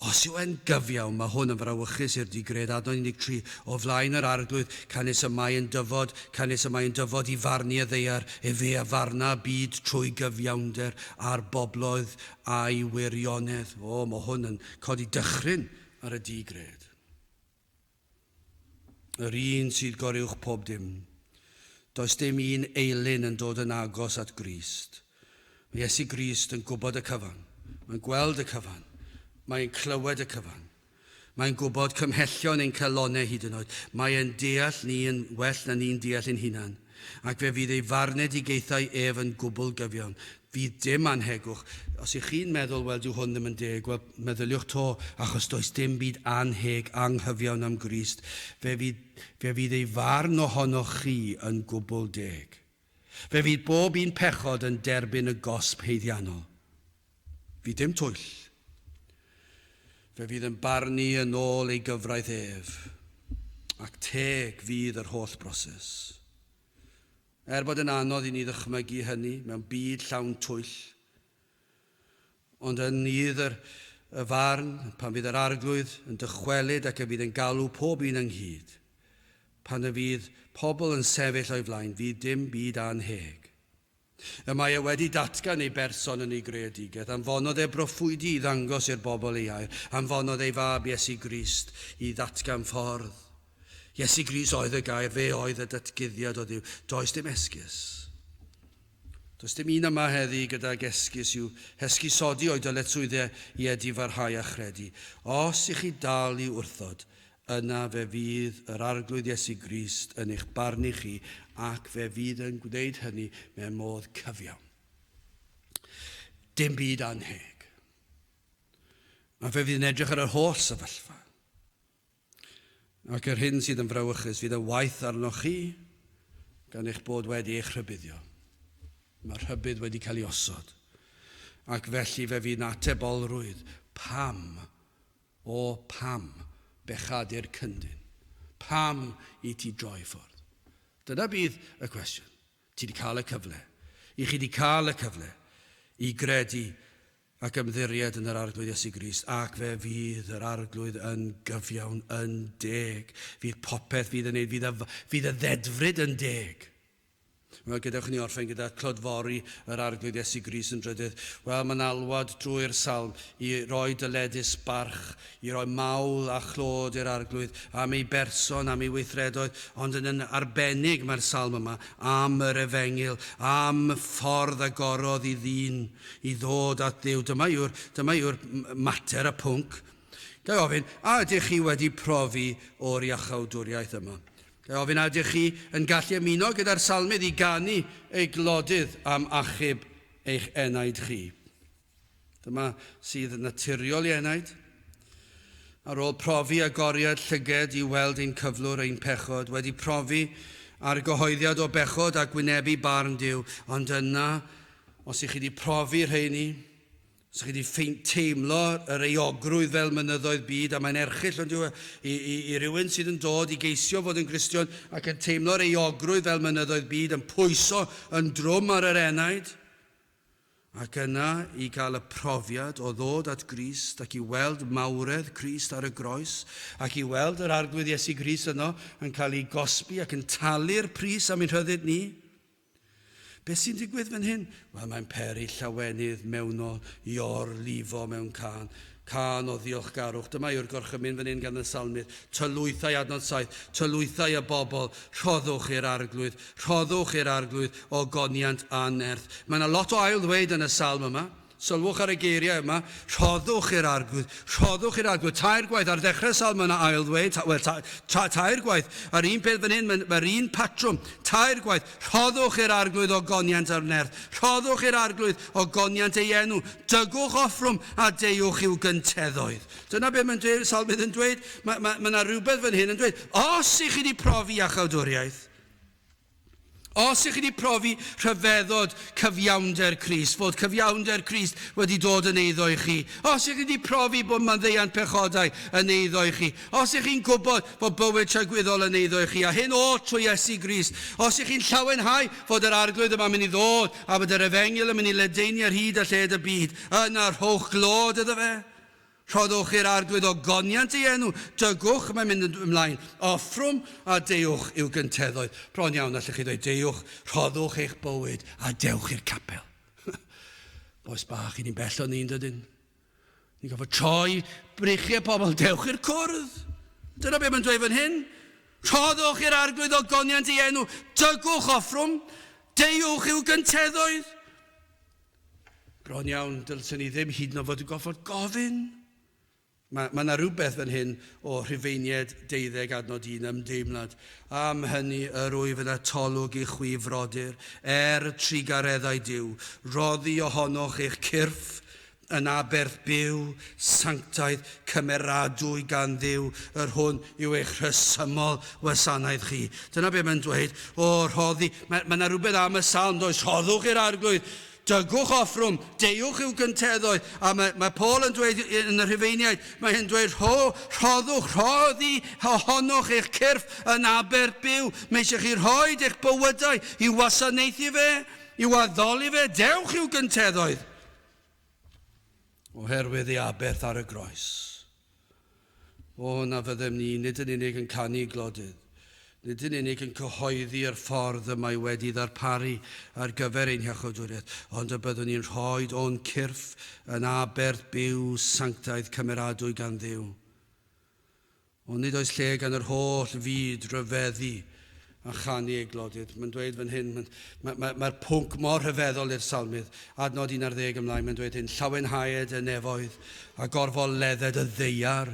Os yw e'n gyfiawn, mae hwn yn frawychus i'r di-gred adnodd 13 o flaen yr Arglwydd, canys y mae yn dyfod, canys y mae yn dyfod i farnu y ddaear, efe a farna y byd trwy gyfiawnder, a'r bobloedd a'i wirionedd. O, mae hwn yn codi dychryn ar y di-gred. Yr un sydd goruwch pob dim. Does dim un eilun yn dod yn agos at Grist. Mae Iesu Grist yn gwybod y cyfan. Mae'n gweld y cyfan. Mae'n clywed y cyfan. Mae'n gwybod cymhellion ein calonau hyd yn oed. Mae e'n deall ni yn well na ni'n deall ein hunan. Ac fe fydd ei farnedigaethau ef yn gwbl gyfiawn. Fydd dim annhegwch. Os y'ch chi'n meddwl, wel, dyw hwn ddim yn deg, wel, meddyliwch 'to, achos does dim byd annheg, anghyfiawn am Grist. Fe fydd, fe fydd ei farn ohonoch chi yn gwbl deg. Fe fydd bob un pechod yn derbyn y gosb haeddiannol. Fi dim twyll. Fe fydd yn barnu yn ôl ei gyfraith ef, ac teg fydd yr holl broses. Er bod yn anodd i ni ddychmygu hynny mewn byd llawn twyll, ond yn Nudd yr y farn, pan fydd yr Arglwydd yn dychwelyd ac y fydd yn galw pob un ynghyd, pan y fydd pobl yn sefyll o'i flaen, fydd dim byd annheg. Y mae e wedi datgan ei berson yn ei greadigaeth, anfonodd e broffwydi i ddangos i'r bobl ei air, anfonodd ei fab Iesu Grist i ddatgan ffordd. Iesu Grist oedd y gair, fe oedd y datguddiad o Dduw. Does dim esgus. Does dim un yma heddi gydag esgus i'w hesgusodi o'i dyletswyddau i edifarhau a chredu. Os i chi dal i wrthod, Yna fe fydd yr Arglwydd Iesu Grist yn eich barnu chi, ac fe fydd yn gwneud hynny mewn modd cyfiawn. Dim byd anheg. A fe fydd yn edrych ar yr holl sefyllfa. Ac yr hyn sydd yn frawychus fydd y waith arnoch chi gan eich bod wedi eich rhybuddio. Mae rhybudd wedi cael ei osod. Ac felly fe fydd na tebolrwydd pam O, pam, bechad i'r cyndyn? Pam i ti droi ffordd? Dyna fydd y cwestiwn. Ti 'di cael y cyfle. I chi 'di cael y cyfle i gredu ac ymddiried yn yr Arglwydd Iesu Grist, ac fe fydd yr Arglwydd yn gyfiawn, yn deg. Fydd popeth fydd yn ei... fydd y... fydd y ddedfryd yn deg. Wel, gadewch i ni orffen gyda clodfori yr Arglwydd Iesu Grist yn drydydd. Wel, mae'n alwad drwy'r Salm i roi dyledus barch, i roi mawl a chlod i'r Arglwydd am ei berson, am ei weithredoedd, ond yn yn arbennig mae'r Salm yma am yr Efengyl, am y ffordd agorodd i ddyn i ddod at Dduw. Dyma yw'r, dyma yw'r mater, y pwnc. Ga i ofyn, a ydych chi wedi profi o'r Iachawdwriaeth yma? Ga i ofyn a ydych chi yn gallu ymuno gyda'r salmydd i ganu ei glodydd am achub eich enaid chi? Dyma sydd naturiol i enaid. Ar ôl profi agoriad llyged i weld ein cyflwr, ein pechod, wedi profi argyhoeddiad o bechod ac wynebu barn Duw, ond yna, os i chi wedi profi rheini, Sa chi 'di ffeind teimlo yr euogrwydd fel mynyddoedd byd, a mae'n erchyll, on'd yw e, i, i, i rywun sydd yn dod i geisio fod yn Gristion ac yn teimlo'r euogrwydd fel mynyddoedd byd yn pwyso yn drwm ar yr enaid, ac yna i gael y profiad o ddod at Grist ac i weld mawredd Crist ar y Groes, ac i weld yr Arglwydd Iesu Grist yno yn cael ei gosbi ac yn talu'r pris am ein rhyddid ni. Beth sy'n digwydd fan hyn? Wel, mae'n peri llawenydd mewnol i or-lifo mewn cân. Cân o ddiolchgarwch. Dyma yw'r gorchymyn fan hyn gan y salmydd. Tylwythau, adnod 7, tylwythau y bobl, rhoddwch i'r arglwydd, rhoddwch i'r arglwydd ogoniant a nerth. Mae yna lot o ail-ddweud yn y salm yma. Sylwch ar y geiriau yma, rhoddwch i'r arglwydd, rhoddwch i'r arglwydd, tair gwaith, ar ddechrau'r salm mae yna ail-ddweud, ta, wel, ta, ta, tair gwaith, a'r un peth fan hyn, mae'n, mae'r un patrwm, tair gwaith, rhoddwch i'r arglwydd o goniant ar nerth, rhoddwch i'r arglwydd o goniant ei enw, dygwch offrwm a deuwch i'w gynteddoedd. Dyna beth mae'n dweud, salmydd yn dweud, mae, mae, mae yna rhywbeth fan hyn yn dweud, os i chi wedi profi iachawdwriaeth, Os ych chi wedi profi rhyfeddod cyfiawnder Crist, fod cyfiawnder Crist wedi dod yn eiddo i chi, os ych chi wedi profi bod manddeant pechodau yn eiddo i chi, os ych chi'n gwybod bod bywyd tragwyddol yn eiddo i chi, a hyn oll trwy Iesu Grist, os ych chi'n llawenhau fod yr Arglwydd yma'n mynd i ddod a bod yr Efengyl yn mynd i ledaenu ar hyd a lled y byd, yna rhowch glod iddo fe. Rhoddwch i'r Arglwydd ogoniant ei enw, dygwch, mae'n mynd yn ymlaen, offrwm, a deuwch yw gynteddau. Bron iawn, allwch chi ddweud, deuwch, rhoddwch eich bywyd, a dewch i'r capel. Boes bach i ni'n bell o'n ni'n dydyn. Ni'n gofod troi breichiau pobl, dewch i'r cwrdd. Dyna beth mae'n dweud fan hyn. Rhoddwch i'r arglwydd o goniant ei enw, dygwch offrwm, deuwch i'w gynteddoedd. Bron iawn, dylsen ni ddim hyd yn oed fod yn gorfod gofyn. Mae yna ma rhywbeth fan hyn o Rhufeinied 12 adnod 1 ymdeimlad. Am hynny yr wyf yn atolwg i chwi frodyr, er y trugareddau Duw, roddi ohonoch eich cyrff yn aberth byw Sanctaidd cymeradwy gan Dduw, yr hwn yw eich rhesymol wasanaeth chi. Dyna be mae'n dweud. O, rhoddi. Mae, mae yna rhywbeth am y salm, does? Rhoddwch i'r arglwydd, dygwch offrwm, deuwch i'w gynteddoedd. A mae, mae Paul yn dweud yn y rhufeiniaid, mae hyn dweud, rho, rhoddwch, rhoddi ohonoch eich cyrff yn aber byw. Mae eisiau chi rhoi eich bywydau i wasanaethu fe, i'w addoli fe, dewch i'w gynteddoedd. Oherwydd ei aberth ar y groes. O, na fyddem ni nid yn unig yn canu glodydd, nid yn unig yn cyhoeddi yr ffordd y mae wedi ddarparu ar gyfer ein hiachawdwriaeth, ond y byddwn ni'n rhoid o'n cyrff yn aberth byw sanctaidd cymeradwy gan Dduw. Ond nid oes lle gan yr holl fyd ryfeddu a chanu ei glodydd. Mae'n dweud fan hyn, mae'r ma, ma, ma pwnc mor rhyfeddol i'r salmydd, adnod 11 ymlaen, mae'n dweud hyn, llawenhaed y nefoedd a gorfol ledded y ddeiar.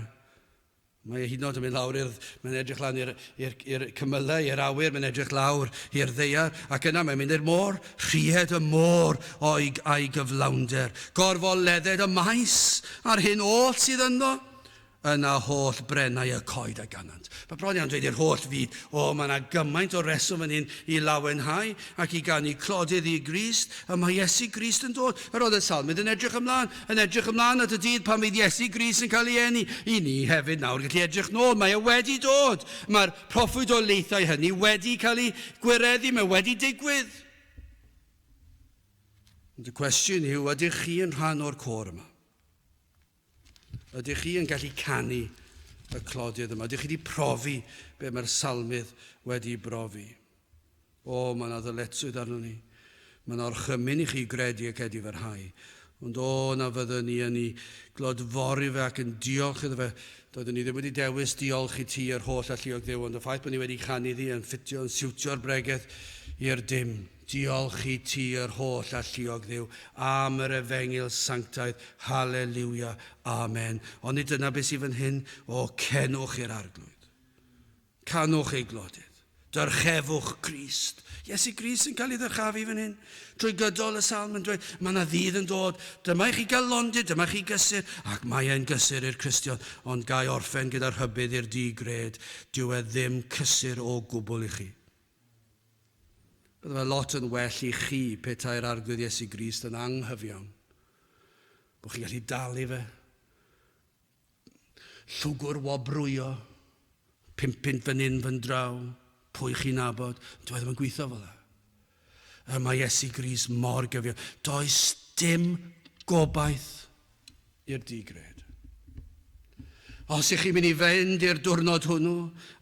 Mae e hyd yn oed yn mynd lawr i'r... Mae'n edrych lan i'r cymylau, i'r awyr, mae'n edrych lawr i'r ddeiar, ac yna mae'n mynd i'r môr, rhied y môr o'i a'i gyflawnder. Gorfol ledded y maes a'r hyn oll sydd ynddo. Yna holl brennau y coed a ganant. Mae bron iawn dweud i'r holl fyd, O, mae yna gymaint o reswm fan hyn i lawenhau ac i ganu clodydd i Grist. Y mae Iesu Grist yn dod. Yr oedd y salmydd yn edrych ymlaen, yn edrych ymlaen at y dydd pan fydd Iesu Grist yn cael ei eni. I ni hefyd nawr gallu edrych nôl, mae e wedi dod. Mae'r proffwydoliaethau hynny wedi cael eu gwireddu, mae wedi digwydd. Ond y cwestiwn yw, ydych chi yn rhan o'r côr yma? Ydych chi yn gallu canu y clodiad yma? Ydych chi wedi profi be mae'r salmydd wedi brofi? O, mae yna ddyletswydd arno ni. Mae yna orchymyn i chi gredu ac edifarhau. Ond o, na fyddwn ni yn ei glodfori fe ac yn diolch iddo fe. Doeddwn ni ddim wedi dewis diolch i ti yr holl alluog ddew, ond y ffaith bod ni wedi canu iddi yn ffitio, yn siwtio'r bregeth i'r dim. Diolch i ti, yr holl alluog Dduw, am yr efengyl sanctaidd, Hallelujah, Amen. Ond nid dyna beth sydd fan hyn, O, cenwch i'r Arglwydd. Canwch ei glodydd. Dyrchefwch Grist. Iesu Grist sy'n cael ei ddyrchafu fan hyn. Trwy gydol y salm yn dweud, mae yna ddydd yn dod, dyma i chi gael londyd, dyma chi gysur, ac mae e'n gysur i'r Cristion, ond gai orffen gyda rhybudd i'r di-gred, dyw e ddim cysur o gwbl i chi. Bydde fe lot yn well i chi petai'r Arglwydd Iesu Grist yn anghyfiawn, bod chi'n gallu dalu fe, llwgwr wobrwyo, pimpint fan hyn fan draw, pwy chi'n nabod, doedd ddim yn gweithio fel yna. Er mae Iesu Grist mor gyfiawn, does dim gobaith i'r digred. Os ych chi'n mynd i fynd i'r diwrnod hwnnw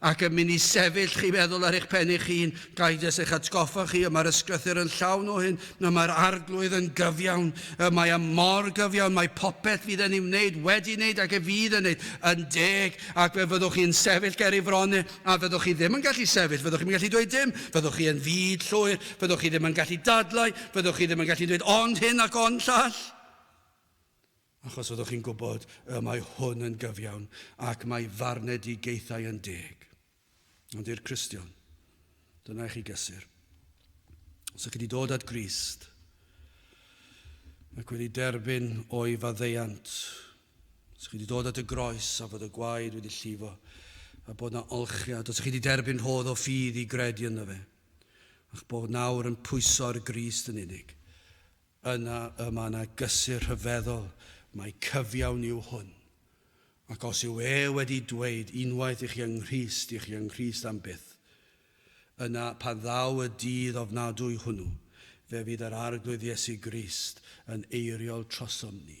ac yn mynd i sefyll chi feddwl ar eich pen eich hun, gael jyst eich atgoffa chi y mae'r ysgrythyr yn llawn o hyn, y mae'r arglwydd yn gyfiawn, y mae am mor gyfiawn, mae popeth fydd yn ei wneud, wedi wneud ac y fydd yn wneud yn deg, ac fe fyddwch chi'n sefyll ger ei fron e, a fyddwch chi ddim yn gallu sefyll, fyddwch chi'n gallu dweud dim, fyddwch chi yn fyd llwyr, fyddwch chi ddim yn gallu dadlau, fyddwch chi ddim yn gallu dweud ond hyn ac ond llall. achos fyddwch chi'n gwybod y mae hwn yn gyfiawn ac mae farnedigaethau yn deg. Ond i'r Cristion, dyna i chi gysur. Os ydych chi wedi dod at Grist ac wedi derbyn o'i faddeiant, os ydych chi wedi dod at y groes a fod y gwaed wedi llifo, a bod na olchiad, os ydych chi wedi derbyn rhodd o ffydd i gredu ynddo fe, a'ch bod nawr yn pwyso ar Grist yn unig, Yna y mae yna gysur rhyfeddol, mai cyfiawn yw hwn. Ac os yw e wedi dweud, Unwaith i chi yng Nghrist, i chi yng Nghrist am byth, yna, pan ddaw y dydd ofnadwy hwnnw, fe fydd yr Arglwydd Iesu Grist yn eiriol trosom ni.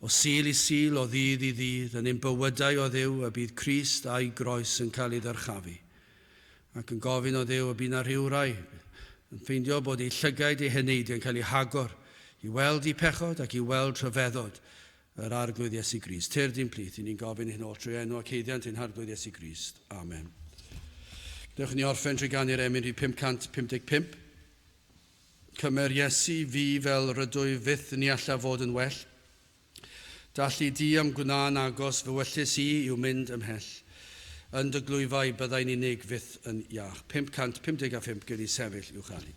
O Sul i Sul, o ddydd i ddydd, yn ein bywydau o Dduw y bydd Crist a'i Groes yn cael ei ddyrchafu. Ac yn gofyn o Dduw y bydd na rhywrai yn ffeindio bod eu llygaid eu heneiddio yn cael eu hagor i weld eu pechod ac i weld rhyfeddod yr Arglwydd Iesu Grist. Tyrd i'n plith, i ni'n gofyn hyn oll trwy enw ac haeddiant ein Harglwydd Iesu Grist. Amen. Dewch i ni orffen trwy ganu'r emyn rhif 555. Cymer Iesu fi fel rydwyf fyth ni alla fod yn well. Dalli di am gwna'n agos fy wyllys i yw mynd ymhell. Yn dy glwyfau byddai'n unig fyth yn iach. 555 gei di sefyll i'w chael hi.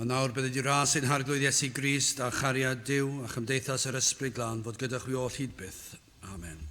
A nawr, bydd y Dŷ Ras ein Harglwydd Iesu Grist, a chariad Duw, a chymdeithas yr Ysbryd Glân fod gyda chwi oll hyd byth. Amen.